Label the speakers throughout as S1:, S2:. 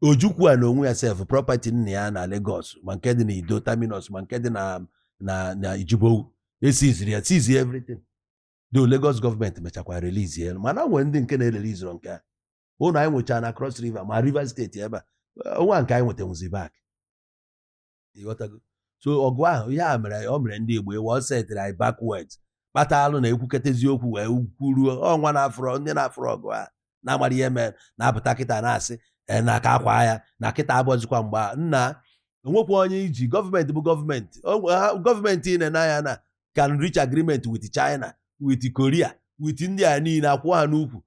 S1: ojukwu a na onwe ya sef prọpati nna ya na Lagos ma nke dị na Iddo Terminus ma nke dị na na na Jibowu esiziri ya sizi everything though Lagos gọọmenti mechakwa relizi ya mana nwere ndị nke na-ereliziro nke a ụlọ anyị nwechara na Cross River ma Rivers steeti ebe a onwe a nke anyị nwetanwuzi back ịghọtago so ọgụ ahụ ihe a mere ọ mere ndị Igbo ịwa ọ setịrị anyị backwards kpatalụ na ekwuketa eziokwu wee kwuruo ọnwa na-afụrọ ndị na-afụrọ ọgụ a na-amarọ ihe mere na-apụta kịta na-asị e, na aka akwa ya na kịta abụrọzikwa mgbe nna onwekwa onye iji gọọmenti bụ gọọmenti gọọmenti ị na-ene anya na can reach agreement with China with Korea with ndị a niile akwụ ha n'ukwu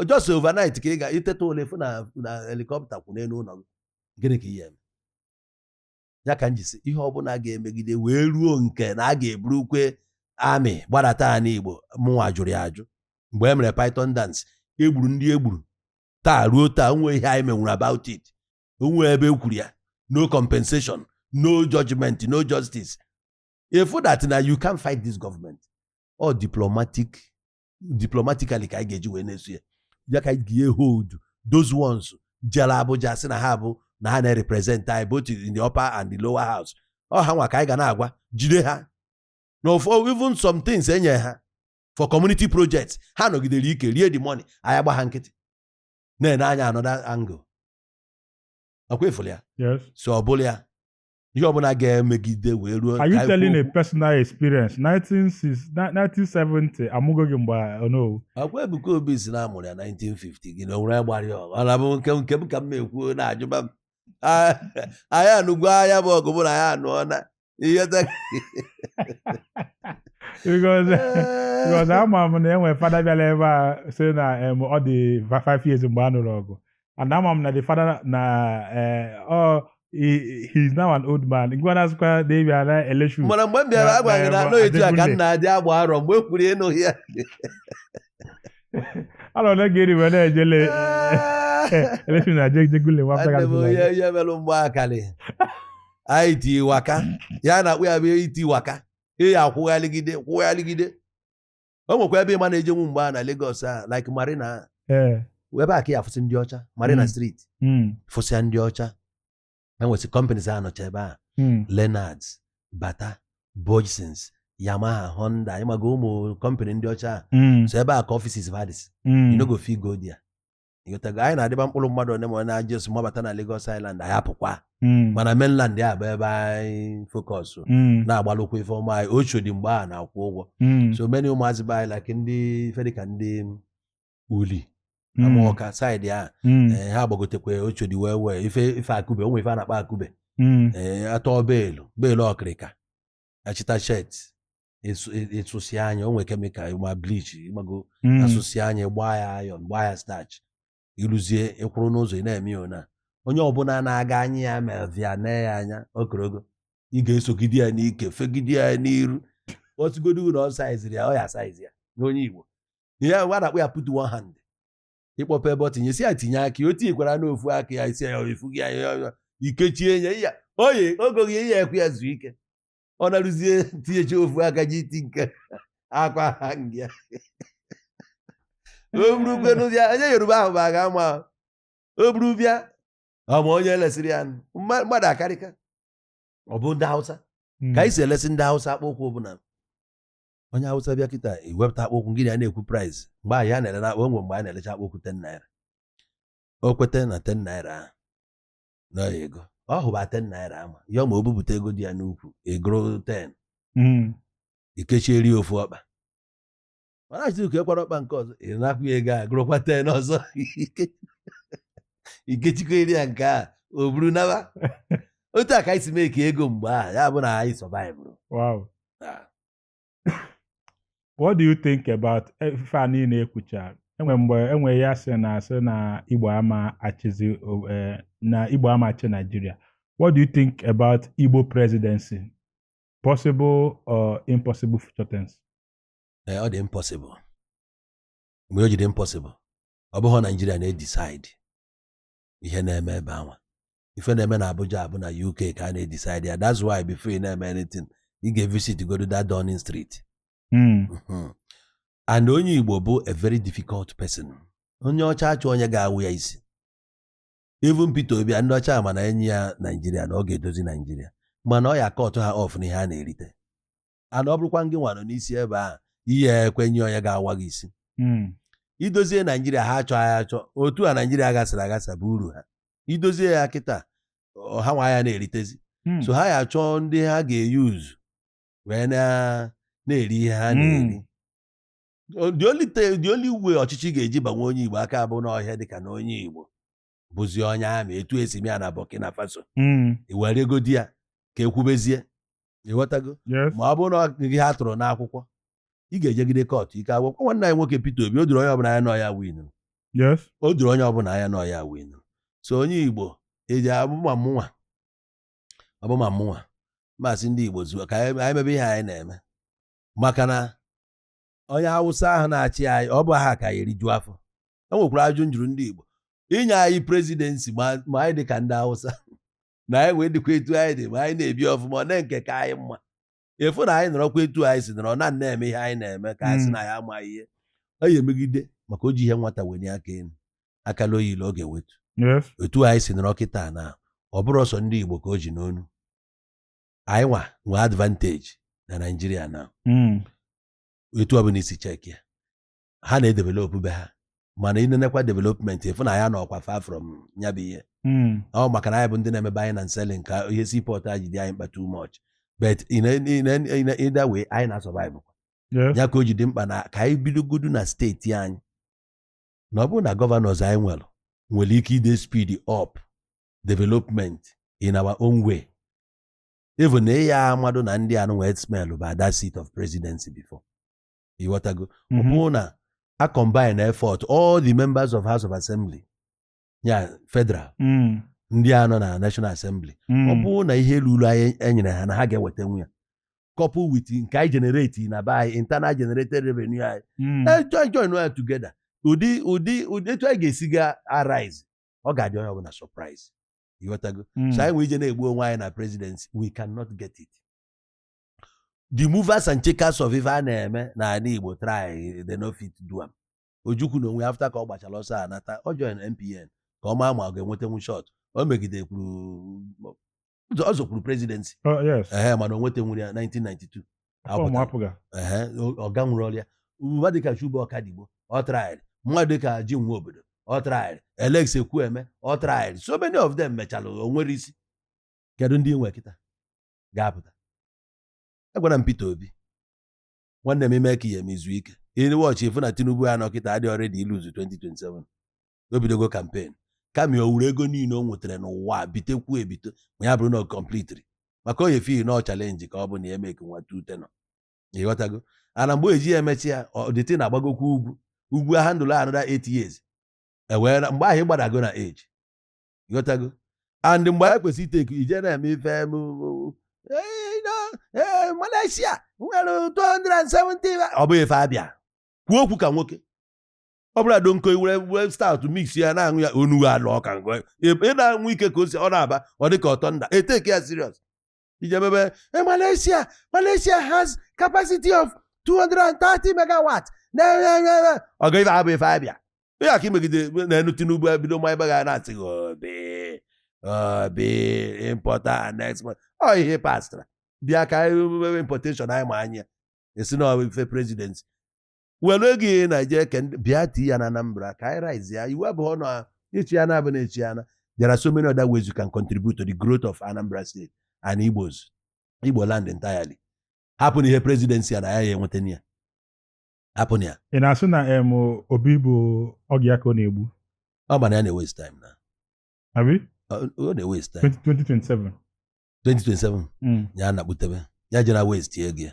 S1: just overnight ka ị ga-eteta ụla fụ na helikọpta kwụ n'elu ụlọ gị gịnị ka ị ya-eme ya ka m ji sị ihe ọbụla ga-emegide wee ruo nke na a ga-eburukwa army gbadata ya n'igbo mụnwa jụrụ ya ajụ mgbe e mere python dance egburu ndị egburu taa ruo taa o nwe ihe anyị menwuru about it o nwe ebe ekwuru ya no compensation no judgment no justice ị fụ that na you can't fight this government ọ diplomatic diplomatically ka anyị ga-eji wee na-eso ya ya ka anyị ga hold those ones jere Abuja sị na ha bụ na ha na-represent anyị both in the upper and the lower house ọ ha nwa ka anyị ga na-agwa jide ha na ụfọ even some things enye ha for community projects ha nọgidere ike rie the money anyị agba ha nkịtị na-ene anya another angle ọkwa ị fụlụ ya so ọ bụla ya ihe ọbụla ga-emegide wee ruo are you telling a
S2: personal experience 1970 amụgo gị mgbe onowu ọkwa Ebuka Obi
S1: sị na a mụrụ ya 1950 gị na onwere ya gbara ya ọgụ ọ na-abụ nke nke m ka m na-ekwu na-ajụba m Ah, anyị anụgo ya bụ ọgụ mụ na ya anụọ na ihe ta- because
S2: because ama m na e nwe fada bịara ebe a sị na em, ọ dị va- five years mgbe a nụrụ ọgụ and ama m na the father na eh, ọ he he is now an old man ngwa na-asịkwa na-ebi ala election mana mgbe m bịara Na- agwaghị
S1: na na- anọ etu a ka Adekunle. nna adị agba arọ mgbe m kwuru ịnụ ya
S2: ala ole ga-eri wee na-ejele election na Ajegunle nwa afta Nwanne m onye gara ihe
S1: merụ mgbe akalị anyị ti waka ya na-akpụ ya bụ iti waka ịya akwụghaligide kwụghaligide o nwekwa ebe ị ma na-ejenwu mgbe a na Lagos a like Marina ee ebe a ka ị ya-afụsị ndị ọcha Marina Mm. Street mm, fụsịa ndị ọcha e nwesị companies a nọcha ebe a mm, Lennards Bata Bhojsons Yamaha Honda ị maga ụmụ company ndị ọcha a mm, so ebe a ka offices va dịsị mm. you no go fit go there ịghọtago anyị na-adịba mkpụrụ mmadụ one ma ọ na-ajụ esi mabata na Lagos Island anyị apụkwa Mm. mana mainland ya bụ ebe anyị focus Mm. na-agbalụkwa ife ọma anyị Oshodi mgbe a na-akwụ ụgwọ Mm. so many ụmụazị be anyị like ndị ife dịka ndị Uli Mm. Amọka saịdị a Mm. ee, ha gbagotekwa Oshodi wee wee ife ife akube ụmụ ife a na-akpọ akube Mm. ee, atọ beelu beelu ọkịrịka achịta shet ị sụsịa nya o nwere kemikal ma bleach ị mago Mm. a sụsịa nya gbaa ya ayọn gbaa ya stach i ruzie ị kwụrụ n'ụzọ ị na-eme ya ona onye ọbụla na-aga anya ya mevia na ya anya o korogo ị ga-esogide ya n'ike fegide ya n'iru ọ sịgodu na ọ saizirọ ya ọ ya-asaizi ya n'oyibo ihe a na-akpọ ya put one hand ị kpọpe ebe ọ tinye sị ya tinye aka ya o tinyekwara n'ofu aka ya isi ya efu gị ya ya ya i kechie ya ya oye ogoghị ya ya ekwe ya zuo ike ọ narụzie tinyecha ofu aka ji iti nke akwa ha nga ya o buru kwenu bịa onye yoruba ahụ bụ aga ama ahụ. o buru bịa ọ ma onye lesịrị ya nụ. Mma- mmadụ akarịka ọ bụ ndị hausa ka anyị si elesi ndị hausa akpụkwụ ọbụla onye awụsa bịa kịta i wepụta akpụkwụ gị na ya na-ekwu praịz mgbe ahụ ya na-ele akpụ enwe mgbe a na-elecha akpụkwụ ten naira o kweta na ten naira ahụ na ego ọ hụba ten naira ama ya ma o bupụta ego dị ya n'ukwu ị gụrụ ten hmm. i kechiere ofu ọkpa mana achịzi uke kwara ọkpa nke ọzọ ị na-akwụ ya ego a gụrụkwa ten ọzọ i kechikwaere ya nke a o buru naba otu a ka anyị si meeka ego mgbe ahụ ya bụ na anyị sọvaịvụrụ
S2: what do you think about eh, ife a niile e kwuchara enwe mgbe enwe ya sị na a sị na igbo ama achịzi o- eh, na igbo ama achị naijiria what do you think about igbo presidency possible or impossible future tense Ee,
S1: ọ dị impossible why o ji dị impossible ọ bụghị naijiria na-edisaid ihe na-eme ebe anwa ife na-eme na Abuja bụ na UK ka a na-edisaidi ya that's why before ị na-eme anything ị ga-evisit godu that Downing Street hmm. mhm. and onye Igbo bụ a very difficult person onye ọcha achọ onye ga-awa ya isi even Peter Obi ndị ọcha ma na e nye ya Naijiria na ọ ga-edozi Naijiria mana ọ ya-akọtụ ha ọf n'ihe a na-erite and ọ bụrụkwa ngị nwa nọ n'isi ebe ahụ ị ya-ekwenye onye ga-awa gị isi Mm. i dozie naijiria ha achọ ya achọ otu a naijiria gasịrị agasa bụ uru ha i dozie ya kịta ọ- ha nwa aya na-eritezi Mm. so ha ya achọ ndị ha ga-eyuzu wee na- na-eri ihe ha na-eri Mm. O- the only te- the only way ọchịchị ga-eji banye onye igbo aka bụ na ọ ya-adị ka na onye igbo bụzi onye ama etu esi eme ya na Burkina Faso hmm. iwere ego di ya ka ekwubezie ịghọtago ma ọ bụrụ na gị ha tụrụ n'akwụkwọ ị ga-ejegide kọtụ ike akwụkwọ nwanne anyị nwoke Peter Obi o doro onye ọbụla anya na ọ ya win o doro onye ọbụla anya na ọ ya win so onye Igbo eji abụma mụnwa ọbụma mụnwa masị ndị Igbo zuo ka anyị mebe ihe anyị na-eme maka na onye Awụsa ahụ na-achị anyị ọ bụ ha ka ya eriju afọ e nwekwara ajụjụ m jụrụ ndị Igbo i nye anyị prezidensi ma anyị dị ka ndị Awụsa na anyị wee dịkwa etu anyị dị ma anyị na-ebi ọfụma ọ na nke ka anyị mma ị fụ na anyị nọrọkwa etu anyị si nọrọ na na-eme ihe anyị na-eme ka anyị sị hmm. na ya amaghị ihe ọ ya emegide maka o ji ihe nwata wenye aka elu akala oyile ọ ga-ewetu etu anyị si nọrọ kịta na ọ bụrụ sọọ ndị Igbo ka o ji n'onu anyị nwa nwee advanteji na Naijiria na hmm. etu ọbụla i si cheki ya ha na-edevelopụ be ha mana i nenekwa development ị fụ na ya nọkwa far from ya bụ ihe Mm. ọ maka na anyị bụ ndị na-eme buying and selling ka ihe seaport a ji dị anyị mkpa too much but in a- in a- in a- either way anyị na-asurvive Yes. ya ka o ji dị mkpa na ka anyị bidogodu na steeti anyị na ọ bụrụ na gọvanọs anyị nwere nwere ike ide speed up development in our own way even na ya amadụ na ndị anụ wee smell bụ that seat of presidency before ịghọtago ọ Mhm. bụrụ na a combine effort all the members of house of assembly ya federal Mm. ndị a nọ na national assembly Mm. ọ bụrụ na ihe ruru anyị enyere ha na ha ga-ewetanwu ya couple with nke anyị generate na be anyị internal generated revenue anyị Mm. Eh, join join ya together ụdị ụdị ụdị etu anyị ga-esi ga arise ọ ga-adị onye ọbụla surprise ịghọtago Mm. so anyị nwee ije na-egbu onwe anyị na presidency we cannot get it the movers and shakers of ife a na-eme n'ala Igbo try they no fit do am Ojukwu n'onwe after ka ọ gbachara ọsọ a nata ọ join NPN ka ọ maa ma ọ ga-enwetenwu shot o megide kwuru ọ zọkwuru presidency oh, ee mana o nwetenwuru ya 1992 ọga nwụrụ ọrịa mmadụ dịka Chuba Ọkadigbo ọ traịrị mmadụ dịka Jim Nwobodo ọ traịrị Alex Ekwueme ọ traịrị so many of them mecha o nwere isi kedu ndị nwe kịta ga-apụta agwara m Peter Obi nwanne m ime ka ihe m izu ike i wọchị ị fụ na Tinubu ya nọ kịta adịrọ ready iluzu 2027 o bidogo kampen kama o were ego niile o nwetara n'ụwa bitekwu ebite ma ya bụrụ na ọ kọmplitiri maka onye fi na ọ chalenji ka ọ bụ na ya emeke nwa two tenure ịghọtago and mgbe e ji ya emecha ya ọchịchị na-agbagokwa ugwu ugwu ahandle another 8 years ewee mgbe ahụ ị gbadago na age ịghọtago and mgbe anyị kwesịrị iteke ije na-eme ife m Malaysia nwere 270 ọ bụghị ife abịa kwuo okwu ka nwoke ọ bụla do nko were stout mix ya na-aṅụ ya onughu alụ ọka ị na-aṅụ ike ka o si ọ na-aba ọ dị ka ọtọ nda eteke ya serious ije mebe Eh, Malaysia Malaysia has capacity of 230 megawatt na ọgụ ife abụ ife abịa onye aka imegide n'enu Tinubu ebido ma ebe ga na-asị gị Obi Obi importer and export ọ ihe pastara bịa ka anyị mebe importation anyị ma anya esi na ọ bụ ife presidency were ego ihe Naijiria ke ndị- bịa tii ya na Anambra ka anyị raise ya iwu abụọ na echi ya na abụ na echi ya na there are so many other ways you can contribute to the growth of Anambra State and Igbos Igbo land entirely hapụ na ihe presidency ya na ya ya enweta na ya hapụ na ya ị na-asị na
S2: em Obi bụ oge ya ka ọ na-egbu ọ ma na ya
S1: na-ewaste time na abi
S2: ọ ọ
S1: na-ewaste time 2027 2027
S2: Mm. ya
S1: na-akpụtebe ya jere waste ego ya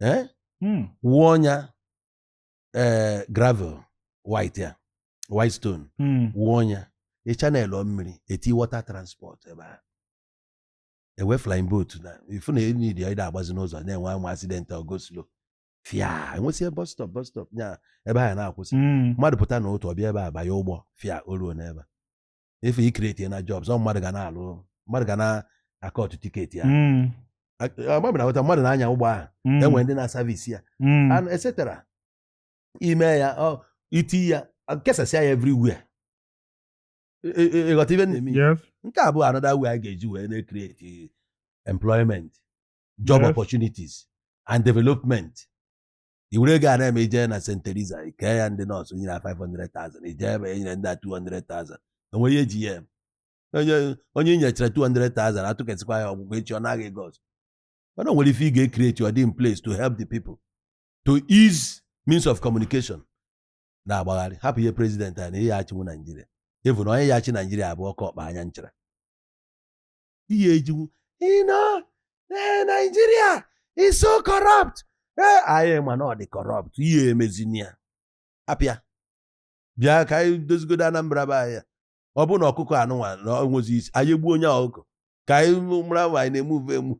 S1: eh, Mm. wụọ ọnya eh, gravel white ya white stone Mm. wụọ ọnya ị channelọ mmiri eti water transport ebe a enwee flying boat na ifu na enyi dị ị da-agbazi n'ụzọ na-enwe anwa accident or go slow fia enwesịa bus stop bus stop nya ebe ha na-akwụsị Mm. mmadụ pụta na otu ọ bịa ebe a banye ụgbọ fia o ruo n'ebe a. ife ikreti na jobs ọ mmadụ ga na-alụ mmadụ ga na-akọtụ tiketi ya Mm, agbabụ na hụta mmadụ na-anya ụgbọ ahụ mm, enwere ndị na-asavisi ya mm, and etc i mee ya ọ i tii ya kesasịa ya everywhere Ị- ị- ịghọta ife na-eme ya? yes. nke a bụ another way a ga-eji wee na-create employment job Yes. opportunities and development i were ego a na-eme i jee na St. Teresa kee ya ndị nọọsụ nyere 500,000 i jee ebe enyere ndị a 200,000 enwe ihe eji ya eme onye onye inyechara 200,000 atụkesịkwa ya ọgwụgwọ echi ọ naa gị ego ọzọ mana o nwere ife ị ga-ekreti ọ dị in place to help the people to ease means of communication na-agbagharị hapụ ihe president a na ị ya-achịnwu Naijiria ị fụ na onye ya achị Naijiria abụ oke ọkpa anya nchara ihe ejiwu ino ee Naijiria is so corrupt ee anyị ma na ọ dị corrupt i ye-emezini ya hapụ ya bịa ka anyị dozigodo Anambra be anyị ọ bụ na ọkụkọ anụnwa na-enwezi isi anyị egbuo onye ọkụkọ ka anyị mara ma anyị na-emuve emu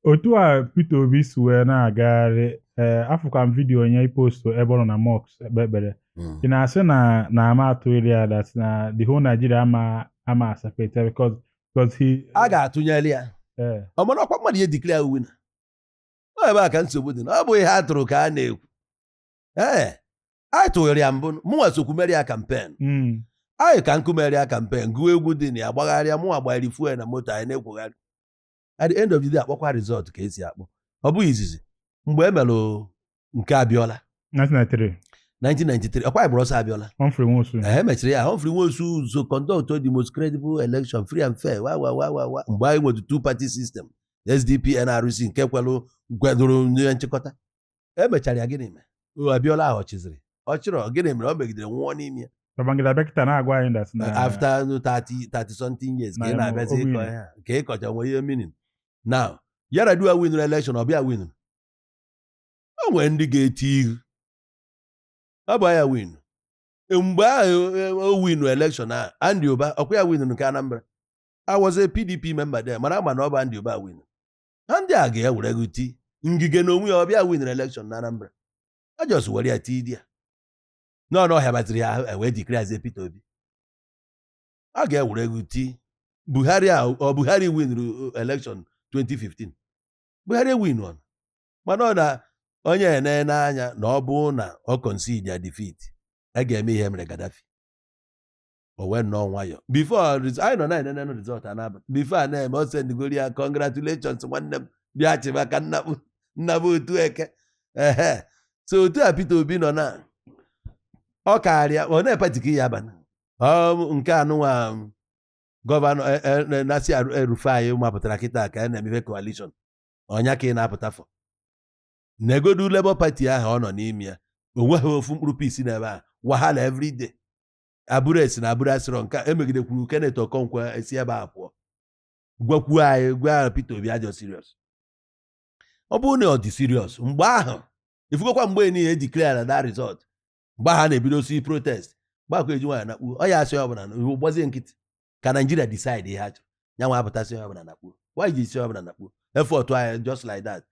S2: otu a Peter Obi si wee na-agagharị ee eh, afụkwa m vidiyo onye ipostu ebe ọ nọ na mosque ekpe ekpere hmm. ị na-asị na na ama atụghịrị ya that na the whole Nigeria ama ama asapeta because because he a ga-atụnyere ya
S1: eh. ọ mana ọkwa mmadụ ya declare ya winner ọ ebe a ka nsogbu dị na ọ bụ ihe a tụrụ ka a na-ekwu ee eh, anyị tụnyere ya mbụ mụnwa sokwu mere ya kampen hmm. anyị ka nkụ mere ya kampen gụọ egwu dị na ya gbagharịa mụnwa gbanyere fuel na moto anyị na-akwọgharị at the end of the day akpọkwa result ka esi akpọ ọ bụghị izizi mgbe e mere nke Abiola 1993 1993 ọkwa a gbara ọsọ Abiola Humphrey Nwosu e mechiri ya Humphrey Nwosu o conduct the most credible election free and fair wa wa wa wa wa mgbe anyị nwere two party system SDP NRC nke kwelụ kwadoro na nchịkọta emechara ya gịnị mere O, Abiola ahụ ọ chịzịrị ọ chịrị o gịnị mere ọ megidere nwụọ n'ime ya Babangida bịa kịta na-agwa anyị that na after 30 30 something years ka Na ị ya na-abịazi o ịkọ win. ihe a, ka ị kọcha nwere ihe meaning now Yar'Adua winụrụ election ọ bụ ya winụrụ o nwere ndị ga-eti ihu ọ bụ ya win mgbe ahụ e, o winu election a Andy Uba ọkwa ya winụrụ nke Anambra I was a PDP member there mana ama na ọ bụ Andy Uba win na ndị a ga-ewere gị ti Ngige na onwe ya ọ bụ ya winiri elekshọn na Anambra a just were ya tii di ya nọ n'ọhịa batịrị ya e wee declarezie Peter Obi a ga-ewere gị ti Buhari a ọ Buhari winru elekshọn 2015 Buhari winu o mana ọ na onye enene anya na ọ bụ na ọ concede defeat a ga-eme ihe e mere Gaddafi o wee nọọ nwayọ before anyị nọ na enene result a na-aba before a na-eme o sendigoro ya congratulations nwanne m bịa chịba ka nna m nna m otu eke ehe so otu a Peter Obi nọ na ọ karịa onee party ka ọ ya-aba na nke a nụnwa gọvanọ e, e, e, Nasir El-Rufai mapụtara kịta ka a na-emefe coalition ọ ya ka ị na-apụta for negodu Labour Party ahụ ọ nọ n'ime ya o nweghị ofu mkpụrụ peace n'ebe a wahala everyday Abure esi na Abure asịrọ nke emegide kwuru Kenneth Okonkwo esi ebe a pụọ gwakwuo anyị gwa ahụ Peter Obi adịrọ serious ọ bụrụ na ọ dị serious mgbe ahụ ifugokwa mgbe niile e declara that result mgbe ahụ ha na-ebidosi protest gbakọ eji nwaanyị nakpuo ọ ya asị ọbụla iwu gbazie nkịtị ka Nigeria decide ihe ha chọrọ ya nwa apụta sị ọbụla nakpuo nwaanyị ji isi ọbụla nakpuo effort anyị just like that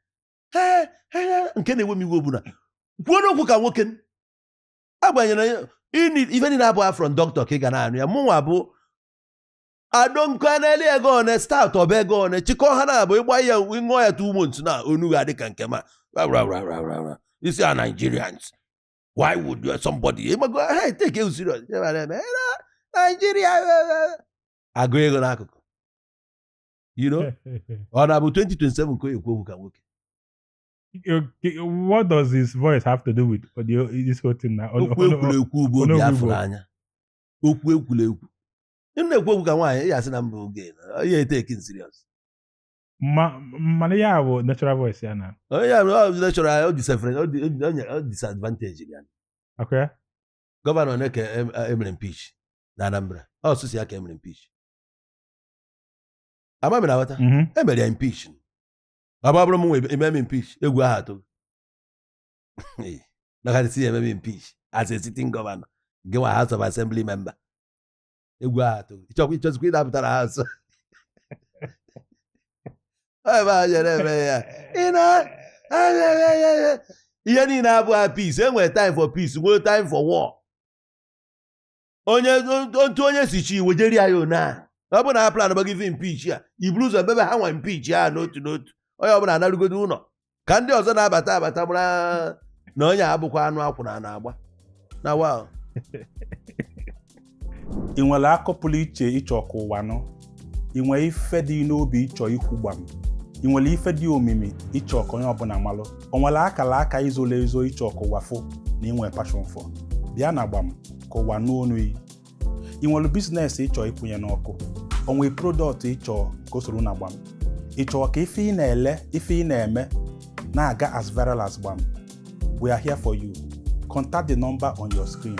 S1: nke na-ewe m iwe ọ bụ na kwuonụ okwu ka nwoke agbanyere ife niile abụ from doctor ka ị ga na-anụ ya mụnwa bụ I don't care na-eli ego one start ọ bụ ego one chịkọ ha na-abụ ịgba ya ịṅụọ ya two months na onu ga adị ka nke ma isi a Nigerians why would you somebody ịgbago ha take you serious Nigeria agụ ego n'akụkụ you know ọ na-abụ 2027 ka o ekwu okwu ka nwoke
S2: Okay, what does his voice have to do with audio, this whole thing now? Ono- okwu ono- ekwurekwu
S1: bụ ono- obi ono- afụrụ anya okwu ekwurekwu ị na-ekwu okwu ka nwaanyị ya asị na mba oge ya etaking
S2: serious Ma- mana ya bụ natural voice ya na onye ya mere ọ jide
S1: chọrọ ya o disefere o di- o di- o nye- o disadvantage ya ọ kwa
S2: ya
S1: gọvanọ na ka em- emere impeach na anambra ọ sọsọ ya ka emere impeach ama mere aghọta Mhm. emere ya impeach ọ bụrụ m nwe ememe impeach egwu aha atụ maka si ememe impeach as a sitting governor gị nwa house of assembly member egwu aha atụ ịchọkwa ịchọzikwa ịdapụtara ha nso ebe ha jere eme ya ị na ihe niile abụghị peace enwere time for peace nwee time for war onye otu onye si chi wejeri ya one a ọ bụrụ na ha plan gbago ife impeach ya iburu ụzọ mebe ha nwa impeach ya n'otu n'otu onye ọbụla anarugodo ụlọ ka ndị ọzọ na-abata abata mara na onye abụkwa anụ akwụna a na-agba na
S2: wa ị nwere akụkọ pụrụ iche ịchọ ka ụwa nụ ị nwere ife dị n'obi ịchọ ikwu gbam ị nwere ife dị omimi ịchọ ka onye ọbụla malụ o nwere akara aka izolo ezo ịchọ ka ụwa fụ na inwe passion for bịa na gbam ka ụwa nụ onu ị ị nwere business ịchọ ịkwụnye n'ọkụ o nwere product ịchọ ka o soro na gbam ị chọọ ka ife ị na-ele ife ị na-eme na-aga as viral as gbam we are here for you contact the number on your screen